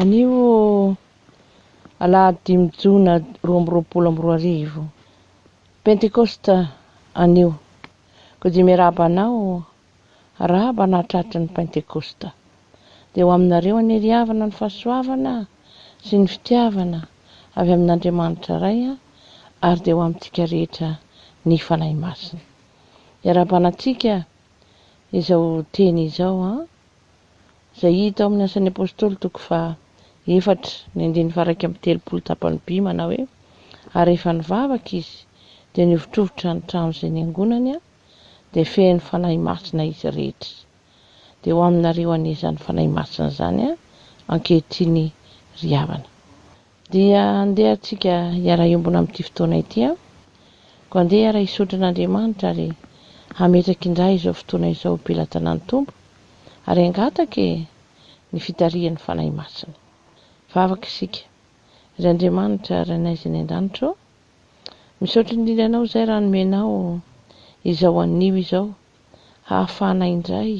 Anio alahady dimy jona roa amby roapolo amby roa arivo, pentekosta anio, koa dia miarahaba anao, arahaba anà tratry ny pentekosta, dia ho aminareo anie ry havana ny fahasoavana sy ny fitiavana avy amin'Andriamanitra Ray ary dia ho amintsika rehetra ny Fanahy Masina. Iarahabana antsika izao teny izao an. izay hita ao amin'ny Asan'ny Apostoly toko faha efatra ny andininy faha iraika amby telopolo tapany by manao hoe, Ary rehefa nivavaka izy, dia nihovitrovitra ny trano izay niangonany, dia feno Fanahy Masina izy rehetra. Dia ho aminareo anie izany Fanahy Masina izany ankehitriny ry havana. Dia andeha antsika hiara-hiombona amin'ity fotoana ity an! Koa andeha hiara-hisotry an'Andriamanitra ary hametraka indray izao fotoana izao ho pelatanan'ny Tompo ary hangataka e! ny fitarihan'ny Fanahy Masina. Vavaka isika, Ry Andriamanitra Rainay izay any an-danitra ô! Misaotra indrindra Anao izay raha nomenao izao anio izao hahafahanay indray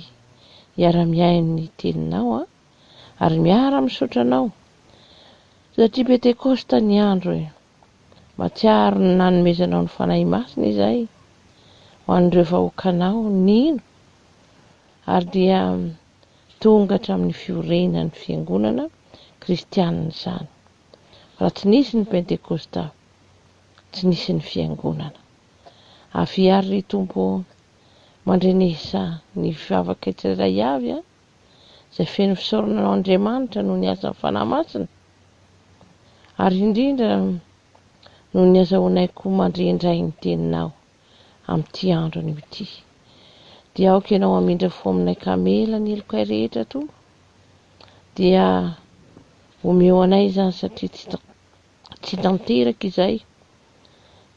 hiara-mihaino ny Teninao an! ary miara misaotra anao satria pentekosta ny andro e! matsiaro ny nanomezanao ny Fanahy Masina izay ho an'ireo vahoakanao nino ary dia tonga hatramin'ny fiorenan'ny fiangonana kristianina izany raha tsy nisy ny pentekosta tsy nisy ny fiangonana Avia ry Tompo ô! mandrenesa ny vavaka tsirairay avy a! izay feno fisaorana ho Andriamanitra noho ny asan'ny Fanahy Masina, ary indrindra noho ny azahoanaiko mandre indray ny Teninao amin'ity andro anio ity. Dia aoka Ianao hamindra fo aminay ka hamela ny helokay rehetra, Tompo. Dia omeo anay izany satria tsy tsy tanteraka izay,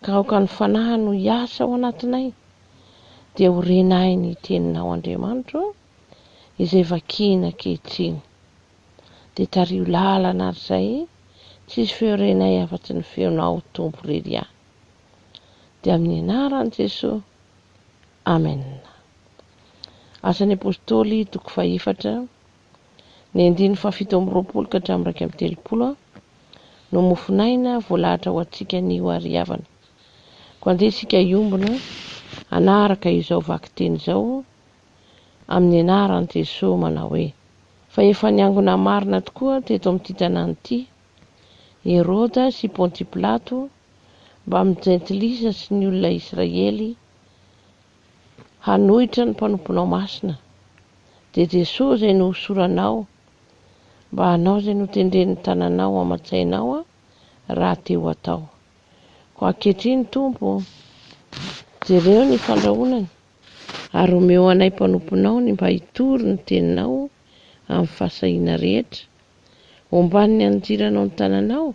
ka aoka ny Fanahiny no hiasa ao anatinay, dia ho renahin'ny Teninao Andriamanitra ô. izay vakina ankehitriny. Dia tariho lalana ary izay, tsisy feo renay afa-tsy ny feonao Tompo ry Ria. Dia amin'ny anaran'i Jesoa. Amen. Asan'ny Apôstôly toko fahefatra, ny andininy fahafito amby roapolo ka hatramin'ny iraika amby telopolo no mofon'aina voalahatra ho antsika anio ary havana. Koa andeha isika hiombona hanaraka izao vakiteny izao amin'ny anaran'i Jesoa manao hoe, Fa efa niangona marina tokoa teto amin'ity tanàna ity, Heroda sy Ponty Pilato, mbamin'ny jentilisa sy ny olona Israely, hanohitra ny mpanomponao masina, dia Jesoa izay nohosoranao, mba hanao izay notendren'ny tananao aman-tsainao rahateo hatao. Koa ankehitriny, Tompo, jereo ny fandrahonany. Ary omeo anay mpanomponao ny mba hitory ny teninao amin'ny fahasahiana rehetra. Omban' ny andiranao ny tananao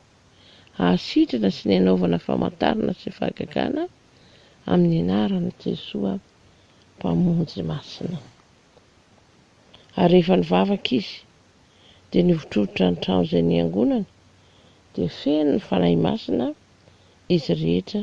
hahasitrana sy ny hanaovana famantarana sy fahagagana amin'ny anaran' i Jesoa Mpamonjy Masina. Ary rehefa nivavaka izy, dia nivotrovotra ny trano izay niangonany, dia feno ny Fanahy Masina izy rehetra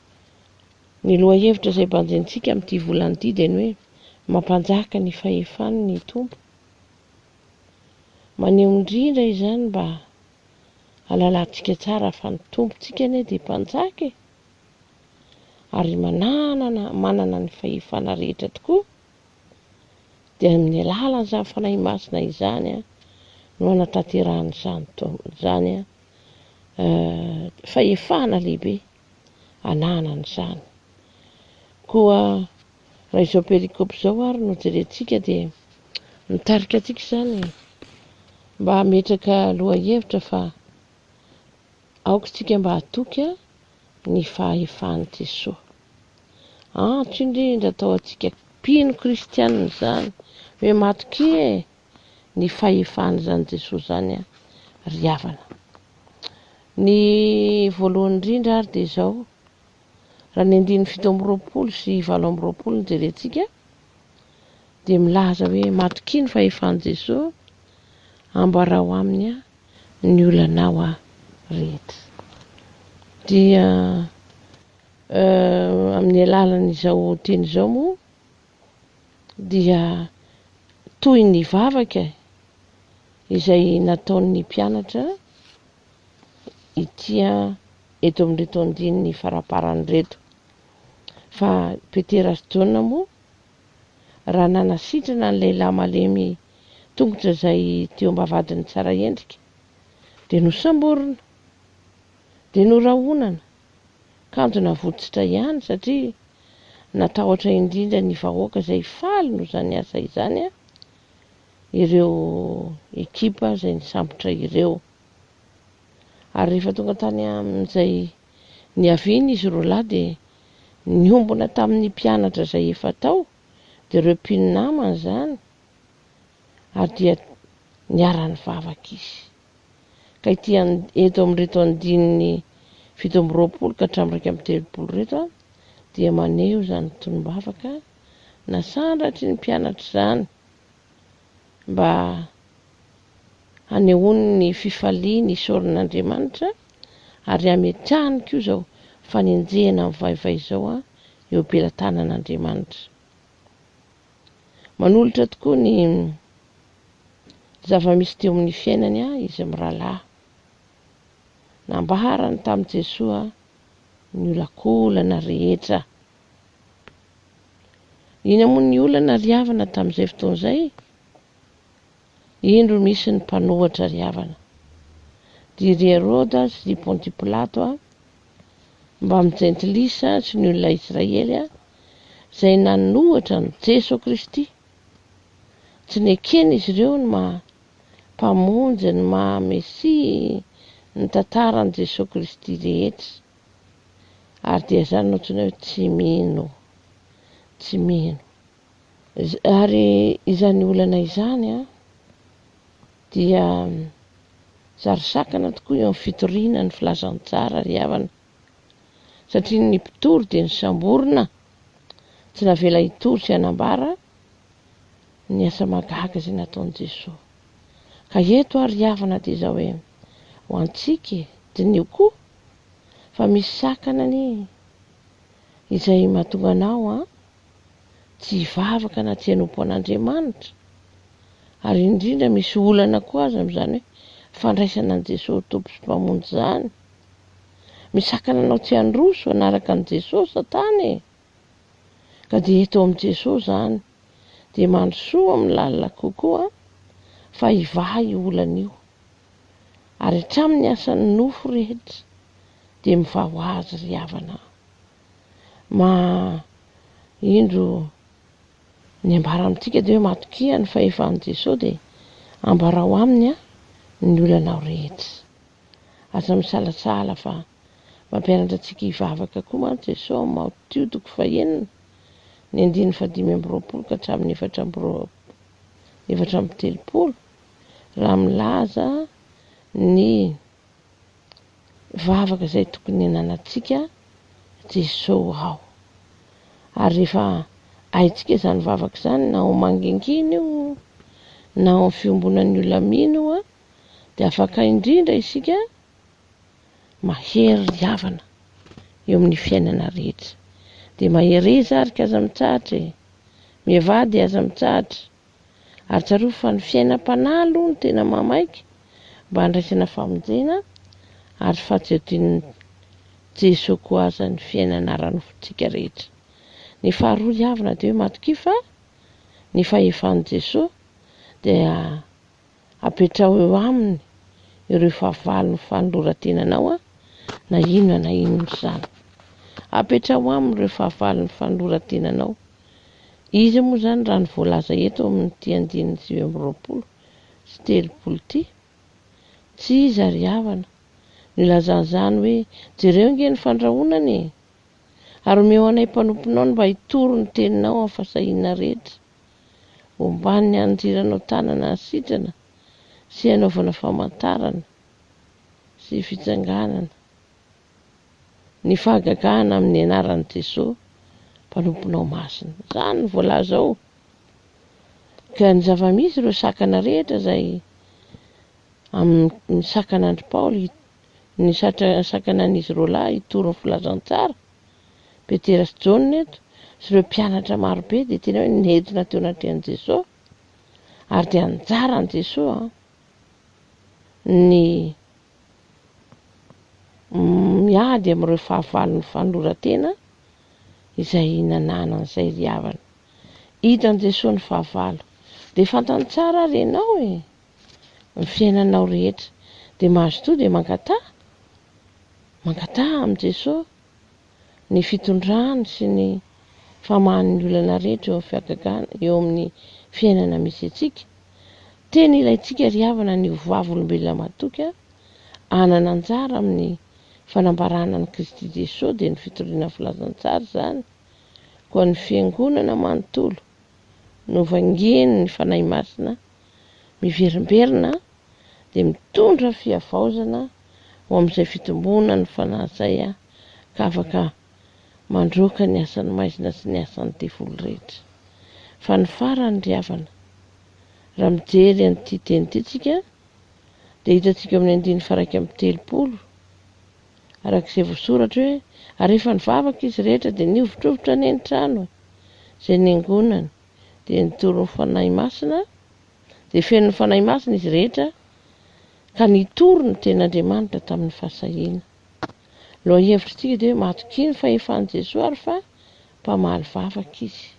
Ny lohahevitra izay banjintsika amin'ity volana ity dia ny hoe mampanjaka ny fahefany ny Tompo. Maneho indrindra izany mba halalantsika tsara fa ny Tompontsika anie dia mpanjaka e! ary mananana, manana ny fahefana rehetra tokoa, dia amin'ny alalan'izany fanahy masina izany a, no anatanterahana izany, izany a, euh, fahefana lehibe. anahana an'izany. Koa raha izao perikopy izao ary no jerentsika dia mitarika antsika izany mba hametraka lohahevitra fa aoka isika mba hatoky ny fahefan'i Jesoa. Antso indrindra atao antsika mpino kristianina izany hoe matokia e! ny fahefan' izany Jesoa izany an ry havana. Ny voalohany indrindra ary dia izao, raha ny andininy fito amby roapolo sy valo amby roapolo no jerentsika dia milaza hoe matokia ny fahefan' Jesoa ambarao aminy an ny olanao an rehetra. Dia amin' ny alalan' izao teny izao moa dia toy ny vavaka izay nataon'ny mpianatra ity eto amin'ireto andininy faraparany ireto. Fa Petera sy Jaona moa raha nanasitrana ny lehilahy malemy tongotra izay teo am-bavahadin'ny tsara endrika dia nosamborina, dia norahonana, kanjo navotsotra ihany satria natahotra indrindra ny vahoaka izay faly noho izany asa izany ireo ekipa izay nisambotra ireo ary rehefa tonga tany amin'izay niaviany izy roa lahy dia niombona tamin'ny mpianatra izay efa tao dia ireo mpinamana izany ary dia niara-nivavaka izy Ka ity eto amin'ireto andininy fito amby roapolo ka hatramin'ny iraika amby telopolo ireto dia maneho izany tonom-bavaka nasandratry ny mpianatra izany mba hanehoany ny fifaliany isaorana Andriamanitra ary hametrahany koa izao fanenjehana mivaivay izao eo am-pelatanan'Andriamanitra. Manolotra tokoa ny zava-misy teo amin'ny fiainany izy mirahalahy. Nambaharany tamin'i Jesoa ny olankolana rehetra. Inona moa ny olana ry havana tamin'izay fotoana izay? Indro misy ny mpanohatra ry havana. Dia ry Heroda sy ry Ponty Pilato a, mbamin'ny jentilisa sy ny olona Israely a, izay nanohatra an'i Jeso Kristy. Tsy neken'izy ireo ny maha Mpamonjy, ny maha Mesia, ny tantaran'i Jeso Kristy rehetra. Ary dia izany no antsoina hoe tsy mino. Tsy mino. Ary izany olana izany dia sary sakana tokoa eo amin'ny fitoriana ny filazantsara ry havana, satria ny mpitory dia nisamborina, tsy navela hitory sy hanambara ny asa mahagaga izay nataon'i Jesoa. Ka eto ary ry havana dia izao hoe, ho antsika e, diniho koa fa misy sakana anie izay mahatonga anao tsy hivavaka na tsy hanompo an'Andriamanitra, ary indrindra misy olana koa aza amin'izany hoe fandraisana an'i Jesosy ho Tompo sy Mpamonjy izany. Misakana anao tsy handroso hanaraka an'i Jesosy Satana e! Ka dia eto amin'i Jesosy izany, dia mandrosoa amin'ny lalina kokoa fa hivaha io olana io. Ary hatramin'ny asan'ny nofo rehetra dia mivaha ho azy ry havana. maha indro ny ambara amintsika dia hoe matokia ny fahefan'i Jesoa dia ambarao aminy ny olanao rehetra. Aza misalasala fa mampianatra antsika hivavaka koa mantsy Jesoa ao Matio toko fahenina ny andininy fahadimy amby roapolo ka hatramin'ny efatra amby roapolo efatra amby telopolo raha milaza ny vavaka izay tokony ananantsika Jesosy ao. Ary rehefa haintsika izany vavaka izany na ao mangingina io na ao amin'ny fiombonan'ny olona mino io dia afaka indrindra isika mahery havana eo amin'ny fiainana rehetra. Dia mahereza ary ka aza mitsahatra e. Mihevady aza mitsahatra. Ary tsarovy fa ny fiainam-panahy aloha no tena mahamaika mba handraisana famonjena ary fahatsiodian'i Jesoa koa aza ny fiainana ara-nofontsika rehetra. Ny faharoa hiavona dia hoe matokia fa ny fahefan'i Jesoa dia apetraho eo aminy ireo fahavalon'ny fanoloran-tenanao na inona na inona izany. Apetraho aminy ireo fahavalon'ny fanoloran-tenanao. Iza moa izany raha ny voalaza eto amin'ity andininy sivy amby roapolo sy telopolo ity? Tsy iza ry havana. Nilazany izany hoe, jereo ange ny fandrahonana e! Ary omeo anay mpanomponao ny mba hitoro ny teninao amin'ny fahasahiana rehetra. omban'ny andirana ho tanana sitrana sy hanaovana famantarana sy fitsanganana ny fahagagana amin'ny anaran'i Jesoa mpanomponao masina. Izany no voalaza ao. Ka ny zava-misy ireo sakana rehetra izay amin'ny sakan'Andry Paoly Ny sakanan'izy roalahy hitory ny filazantsara, Petera sy Jaona eto, sy ireo mpianatra marobe dia tena hoe nentina teo anatrehan'i Jesoa, ary dia anjara an'i Jesoa ny miady amin'ireo fahavalon'ny fanoloran-tena izay nanana an'izay ry havana. Hitan'i Jesoa ny fahavalo. Dia fantany tsara ary ianao e! ny fiainanao rehetra dia mazotoa dia mangataha mangataha amin'i Jesoa ny fitondrany sy ny famahany ny olana rehetra eo amin'ny fihagagana eo amin'ny fiainana misy antsika tena ilaintsika ry havana ny ho vavolombelona matoky a hanana anjara amin'ny fanambarana ny Kristy Jesoa dia ny fitoriana filazantsara izany koa ny fiangonana manontolo no vangian'ny Fanahy Masina miverimberina dia mitondra fihavaozana ho amin'izay fitomboana ny fanahy izay ka afaka mandroaka ny asan'ny maizina sy ny asan'ny devoly rehetra. Fa ny farany ry havana, raha mijery an'ity teny ity tsika dia hitantsika ao amin'ny andininy faharaika amby telopolo arak'izay voasoratra hoe ary efa nivavaka izy rehetra dia nihovitrovitra any an-trano izay niangonany dia nitorin'ny Fanahy Masina, dia fenon'ny Fanahy Masina izy rehetra, ka nitory ny Tenin'Andriamanitra tamin'ny fahasahiana. Lohahevitr'isika dia hoe matokia ny fahefan'i Jesoa ary fa mpamaly vavaka Izy.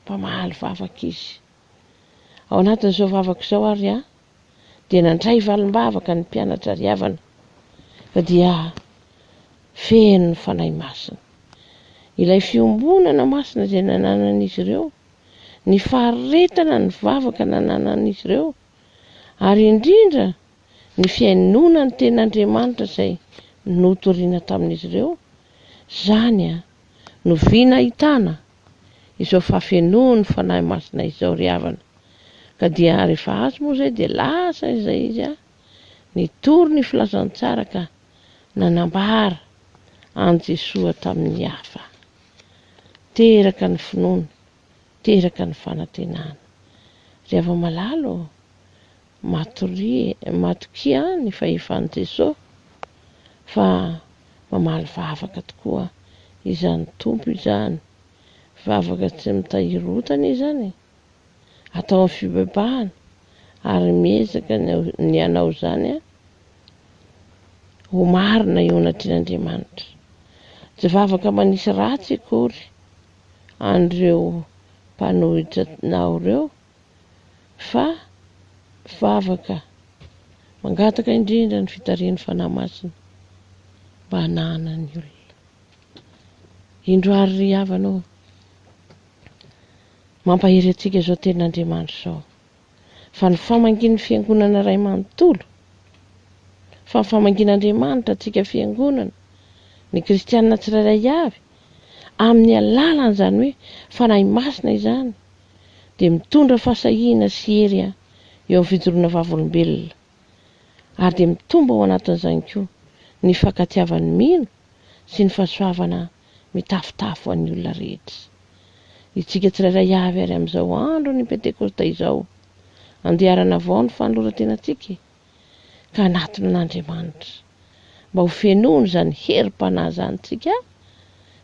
Mpamaly vavaka Izy. Ao anatin'izao vavaka izao ary aho, dia nandray valim-bavaka ny mpianatra ry havana fa dia feno ny Fanahy Masina. Ilay fiombonana masina izay nananan'izy ireo, ny faharetana ny vavaka nananan'izy ireo, ary indrindra ny fihainoana ny Tenin'Andriamanitra izay notoriana tamin'izy ireo, izany no vina ahitana izao fafenoan'ny Fanahy Masina izao ry havana, ka dia rehefa azo moa izay dia lasa izay izy a! Nitory ny filazantsara ka nanambara an'i Jesoa tamin'ny hafa. Teraka ny finoana, teraka ny fanantenana. Ry hava-malala ô! Matoria e, matokia ny fahefan'i Jesosy fa mamaly vavaka tokoa izany Tompo izany, vavaka tsy mitahiry otana izany e, ataovy fibebahana ary miezaka ny hanao izany ho marina eo anatrehan'Andriamanitra. Tsy vavaka manisy ratsy akory an'ireo mpanohitra nao ireo fa vavaka mangataka indrindra ny fitarihan'ny Fanahy Masina mba hanahana ny olona. Indro ary ry havana ô, mampahery antsika izao tenin'Andriamanitra izao, fa ny famangian'ny Fiangonana iray manontolo, fa ny famangian'Andriamanitra antsika Fiangonana, ny kristiana tsirairay avy, amin'ny alalan'izany hoe Fanahy Masina izany, dia mitondra fahasahiana sy hery eo amin'ny fijoroana vavolombelona, ary dia mitombo ao anatin'izany koa ny hifankatiavan'ny mino sy ny fahasoavana mitafotafo an'ny olona rehetra. Itsika tsirairay avy ary amin'izao andron'ny Pentekosta izao, andeharana avao ny fanoloran-tenantsika e! ka anaton'Andriamanitra, mba ho fenoiny izany herim-panahy izany isika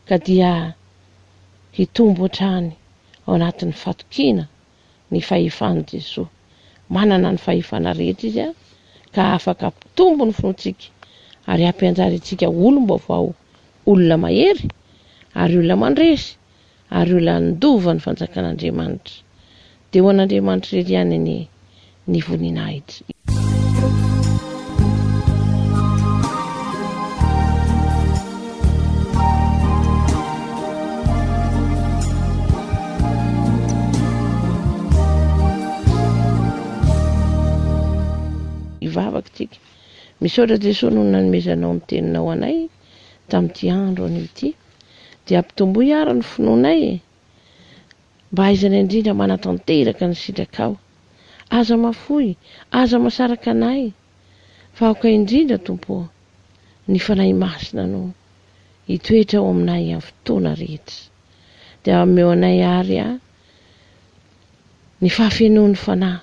ka dia hitombo hatrany ao anatin'ny fatokiana ny fahefan'i Jesoa. Manana ny fahefana rehetra Izy ka afaka hampitombo ny finoantsika ary hampianjary antsika olom-baovao, olona mahery ary olona mandresy ary ho lanin-dova ny fanjakan'Andriamanitra, dia ho an'Andriamanitra irery ihany anie ny voninahitra. Hivavaka isika. Misaotra Jesoa noho ny nanomezanao ny Teninao anay tamin'ity andro anio ity. dia ampitomboy àry ny finoanay e! Mba hahaizanay indrindra manatanteraka ny sitrakao. Aza mahafoy, aza mahasaraka anay, fa aoka indrindra, Tompo ô, ny Fanahy Masina no hitoetra ao aminay amin'ny fotoana rehetra. Dia omeo anay àry ny fahafenoan'ny Fanahy.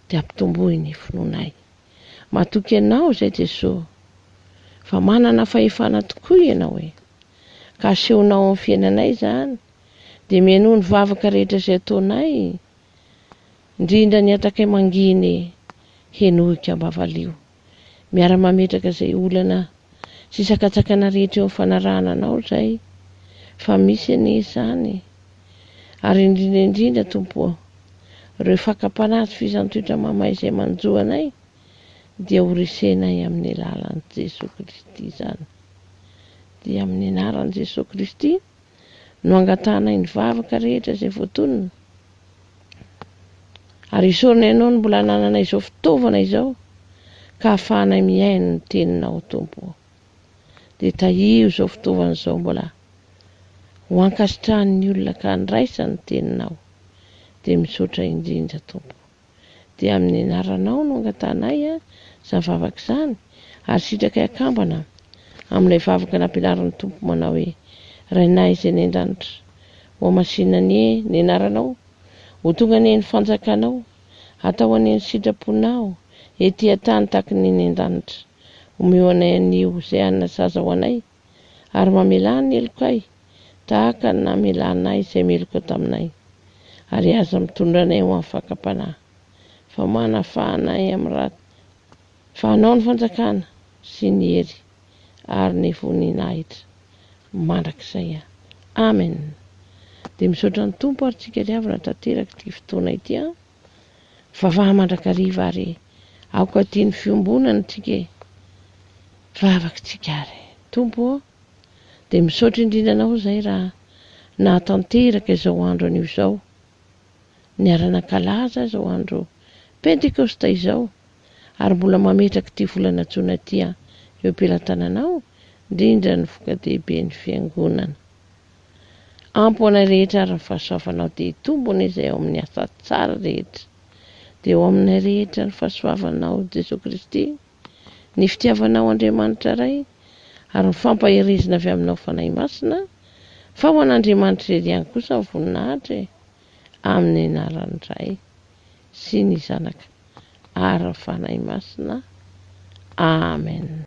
dia ampitomboy ny finoanay. Matoky Anao izay Jesoa, fa manana fahefana tokoa Ianao e! Ka asehonao amin'ny fiainanay izany, dia mihainoa ny vavaka rehetra izay ataonay, indrindra ny hatakay manginy, henoiko am-bavalio. miara-mametraka izay olana sy sakatsakana rehetra eo amin'ny fanarahana anao izay fa misy anie izany ary indrindra indrindra Tompo ô ireo fakam-panahy sy fizan-toetra mamay izay manjo anay dia ho resenay amin'ny alalan'i Jesoa Kristy izany dia amin'ny anaran'i Jesoa Kristy no angatahanay ny vavaka rehetra izay voatonona, ary isaorana Ianao ny mbola anananay izao fitaovana izao ka ahafahanay mihaino ny Teninao, Tompo ô. Dia tahio izao fitaovana izao mbola ho ankasitrahan'ny olona ka handraisany ny Teninao. Dia misaotra indrindra, Tompo. dia amin'ny anaranao no angatahanay izany vavaka izany, ary sitrakay akambana amin'ilay vavaka nampianarin'ny Tompo manao hoe, Rainay izay any an-danitra, hohamasinina anie ny anaranao, ho tonga anie ny fanjakanao, hatao anie ny sitraponao ety an-tany tahaka ny any an-danitra, omeo anay anio izay hanina saza ho anay, ary mamelà ny helokay tahaka ny namelanay izay meloka taminay, ary aza mitondra anay ho amin'ny fakam-panahy, fa manafaha anay amin'ny ratsy, fa anao ny fanjakana, sy ny hery, ary ny voninahitra, mandrakizay. Amen! Dia misaotra ny Tompo ary tsika liavina tanteraka ity fotoana ity an! Vavaha mandrakariva ary aoka tia ny fiombonana antsika e! Vavaka antsika ary Tompo ô! Dia misaotra indrindra Anao izay raha nahatanteraka izao andro anio izao, niara-nankalaza izao andro Pentekosta izao ary mbola mametraka ity volana jona ity eo am-pelantananao indrindra ny voka-dehiben'ny Fiangonana. Ampy ho anay rehetra ary ny fahasoavanao dia hitombona izay ao amin'ny asa tsara rehetra. Dia ho aminay rehetra ny fahasoavanao Jesoa Kristy, ny fitiavanao Andriamanitra Ray ary ny fampaherezina avy aminao Fanahy Masina, fa ho an'Andriamanitra irery ihany kosa ny voninahitra e. amin'ny anaran'ny Ray sy ny Zanaka ary ny Fanahy Masina. Amen.